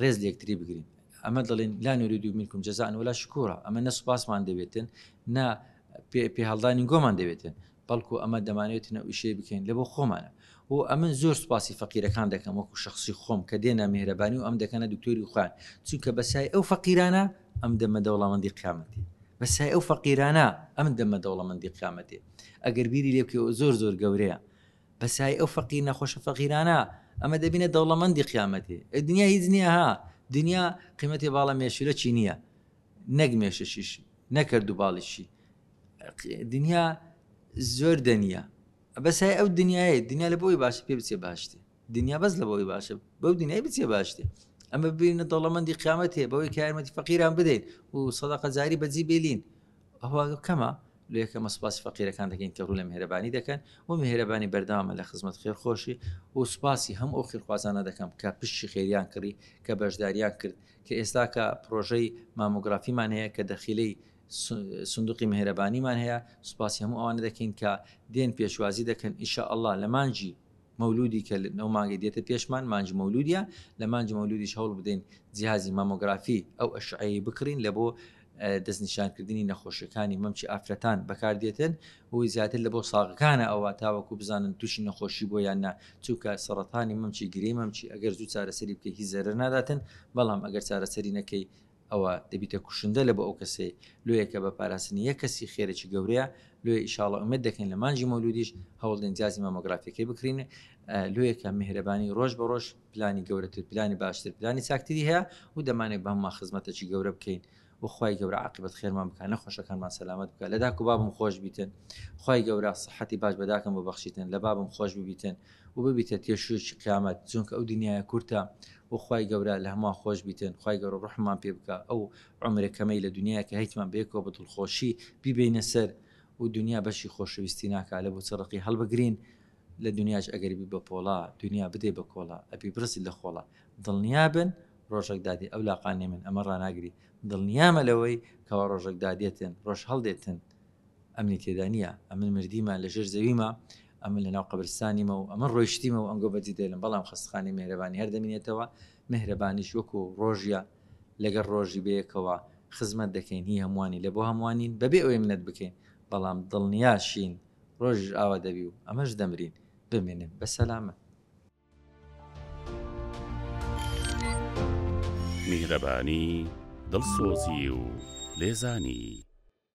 ڕێز لە یەکتری بگرین ئەمە دەڵێن لا نورید و منکم جزاء ولا شکورا ئەمە نە سوپاسمان دەبێتن نا پێهڵدانی گۆمان دەبێتن بەڵکو ئەمە دەمانێت نەویشەی بکەین لە بۆ خۆمانە و ئەمن زۆر سوپاسی فەقیرەکان دەکەم وەکو شخصی خۆم کە دێنە مهرەبانی و ئەم دەکەنە دکتۆری خوان چونکە بەسای ئەو فەقیرانە ئەم دەمە دەوڵامەندی قیامەتی بەسای ئەو فەقیرانە ئەم دەمە دەوڵەمەندی قیامەتێ ئەگەر بیری لێبکەوە زۆر زۆر گەورەیە بە سای ئەو فەقیر نەخۆشە فەقیرانە ئەمە دەبینە دەوڵەمەندی قیامەتێ ئەی دنیا هیچ نییە ها دنیا قیمەتی باڵە مێشولەکی نییە نەک مێشەشیش نەکرد و باڵیشی دنیا زۆر دەنیە بەسای ئەو دنیاە دنیا لە بۆی باش پێ بچێ باشتێ دنیا بەس لە بۆی باشە بەو دنیای بچێ باشتێ ئەمە ببینە دەوڵەمەندی قیامەت هەیە بەوەی کارمەتی فەقیران بدەین و سەدەقەجاری بەجی بێلین ئەوە کەمە؟ لۆ یەکەمە سوپاسی فەقیرەکان دەکەین کە ڕوو لە میهرەبانی دەکەن و میهرەبانی بەردەوامە لە خزمەت خێرخۆشی و سوپاسی هەموو ئەو خیرخوازانە دەکەم کە پشتی خێریان کڕی کە بەشداریان کرد کە ئێستاکە پڕۆژەی مامۆگرافیمان هەیە کە دەخیلەی سندوقی میهرەبانیمان هەیە سوپاسی هەموو ئەوانە دەکەین کە دێن پێشوازی دەکەن ئیشاءاللە لە مانگی مەولودی کە نۆ مانگی دێتە پێشمان مانگی مەولودیە لە مانگی مەولودیش هەوڵ بدەین جیازی مامۆگرافی ئەو ئەشعەیە بکڕین لە بۆ دەستنیشانکردنی نەخۆشیەکانی مەمچی ئافرەتان بەکاردێتن و زیاتر لە بۆ ساغەکانە ئەوە تاوەکو بزانن تووشی نەخۆشی بۆ یان نا چووکە سەرەتانی مەمچی گرێ مەمچی ئەگەر زوو چارەسەری بکە هی زەرەر ناداتن بەڵام ئەگەر چارەسەری نەکەی ئەوە دەبیتە کوشندە لە بۆ ئەو کەسەی لۆیە کە بە پاراستنی یەک کەسی خێرێکی گەورەیە لۆیە ئیشاڵڵە ئومێد دەکەین لە مانگی مەولودیش هەوڵدەین جیازی مامۆگرافیەکەی بکرین لۆیە کە میهرەبانی ڕۆژ بە ڕۆژ پلانی گەورەتر پلانی باشتر پلانی چاکتری هەیە و دەمانێت بە هەمووان خزمەتەکی گەورە بکەین وخوای گەورە عقیبەت خێرمان بکە نەخۆشەکانمان سەلامت بکە لە داک و بابم خۆش بیتن خی گەورە سەحەتی باش بەداکەم بۆ بەخشیتن لە بابم خۆش ببیتن و ببیتە تێشووێکی قیامەت چونکە ئەو دنیایە کورتە و خوای گەورە لە هەمووان خۆش بیتن خوای گەورە ڕوحممان پێ بکا ئەو عومرە کەمەی لە دنیایە کە هەیتمان بەیەکەوە بە دڵخۆشی بیبەینە سەر و دنیا بەشی خۆشەویستی ناکا لە بۆچە ڕەقی هەڵبگرین لە دنیاش ئەگەر بی بە پۆڵا دنیا بدەی بە کۆڵا ئەبی بڕزی لە خۆڵا دڵنیا بن ڕۆژەک دادێ ئەو لاقانێ من ئەمە ڕاناگری دڵنیامە لەوەی کەوا ڕۆژەک دادێتن ڕۆژ هەڵدێتن ئەمنی تێدا نییە ئەمن مردیمە لەژێر زەویمە ئەمن لەناو قەبرستانیمە و ئەمن ڕۆیشتیمە و ئەنگۆ بەجی دێلم بەڵام خەستخانی مێرەبانی هەر دەمینێتەوە مهرەبانیش وەکو ڕۆژە لەگەر ڕۆژی بەیەکەوە خزمەت دەکەین هی هەمووانی لە بۆ هەمووانین بەبێ ئەوەی منەت بکەین بەڵام دڵنیاشین ڕۆژیش ئاوا دەبی و ئەمەش دەمرین بمێنن بە سەلامەت میهرەبانی دڵسۆزی و لێزانی